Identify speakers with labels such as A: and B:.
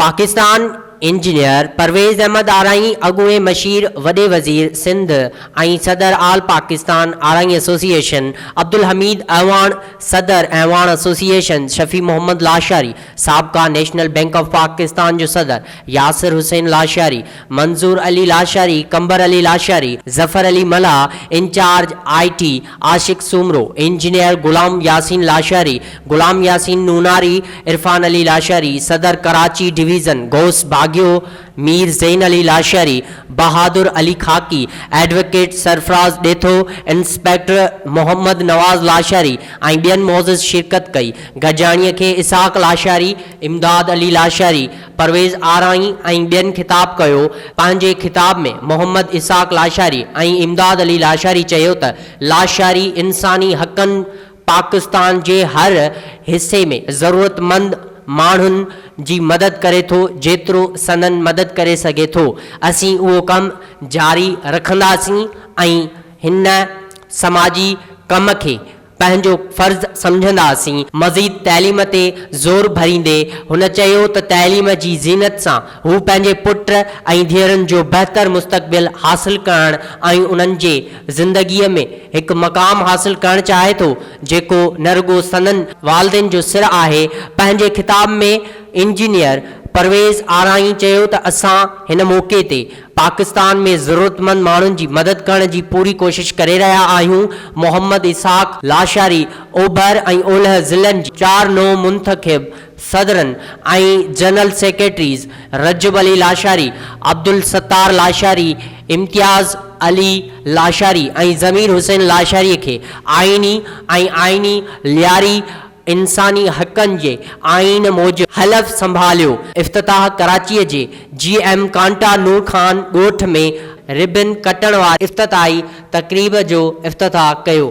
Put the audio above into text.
A: Pakistan, engineer Parvez Ahmed Arain اڳوڻي مشير وڏي وزير سنڌ ۽ صدر آل پاڪستان آرائي ايسوسيئيشن عبدالحميد اعواڻ، صدر اعواڻ ايسوسيئيشن شفيع محمد لاشاري، سابقا نيشنل بئنڪ آف پاڪستان جو صدر Yasir Hussain Lashari, Manzoor Ali Lashari, Qambar Ali Lashari, Zafar Ali Mallah, incharge I T Ashiq Soomro, engineer Ghulam Yasin Lashari, Ghulam Yasin Nonari, Irfan Ali Lashari, صدر Karachi division Ghaus Bagio, Mir Zain Ali Lashari, Bahadur Ali Khaki, advocate Sarfraz Detho, inspector Muhammad Nawaz Lashari ۽ ٻين معزز شرڪت ڪئي. گڏجاڻيء کي اسحاق لاشاري، امداد علي لاشاري، پرويز آرائين ۽ ٻين خطاب ڪيو. پنهنجي خطاب ۾ محمد اسحاق لاشاري ۽ امداد علي لاشاري چيو ته لاشاري انساني حقن، پاڪستان جي هر حصي ۾ ضرورتمند ماڻهن جي مدد ڪري ٿو جيترو سندن مدد ڪري سگهي ٿو اسين اهو ڪم جاري رکنداسين ۽ هن سماجي ڪم کي پنهنجو فرض سمجهنداسين مزيد تعليم تي زور ڀريندي هن چيو ته تعليم جي زينت سان هو پنهنجي پٽ ۽ ڌيئرن جو بهتر مستقبل حاصل ڪرڻ ۽ انهن جي زندگيء ۾ هڪ مقام حاصل ڪرڻ چاهي ٿو، جيڪو نه رڳو سندن والدين جو سر آهي. پنهنجي خطاب ۾ انجنيئر پرويز آرائين چيو ته اسان هن موقعي تي پاڪستان ۾ ضرورتمند ماڻهن جي مدد ڪرڻ جي پوري ڪوشش ڪري رهيا آهيون، محمد اسحاق لاشاري اوڀر ۽ اولهه ضلعن جي چار نو منتخب صدرن ۽ جنرل سيڪريٽريز رجب علي لاشاري، عبدالستار لاشاري، امتياز علي لاشاري ۽ ضمير حسين لاشاري کي آئيني ۽ آئيني لياري انساني حقن جي آئين موجب حلف سنڀاليو. افتتاح ڪراچيء جي جي ايم ڪانٽا نور خان ڳوٺ ۾ ربن ڪٽڻ واري افتتاحي تقريب جو افتتاح ڪيو.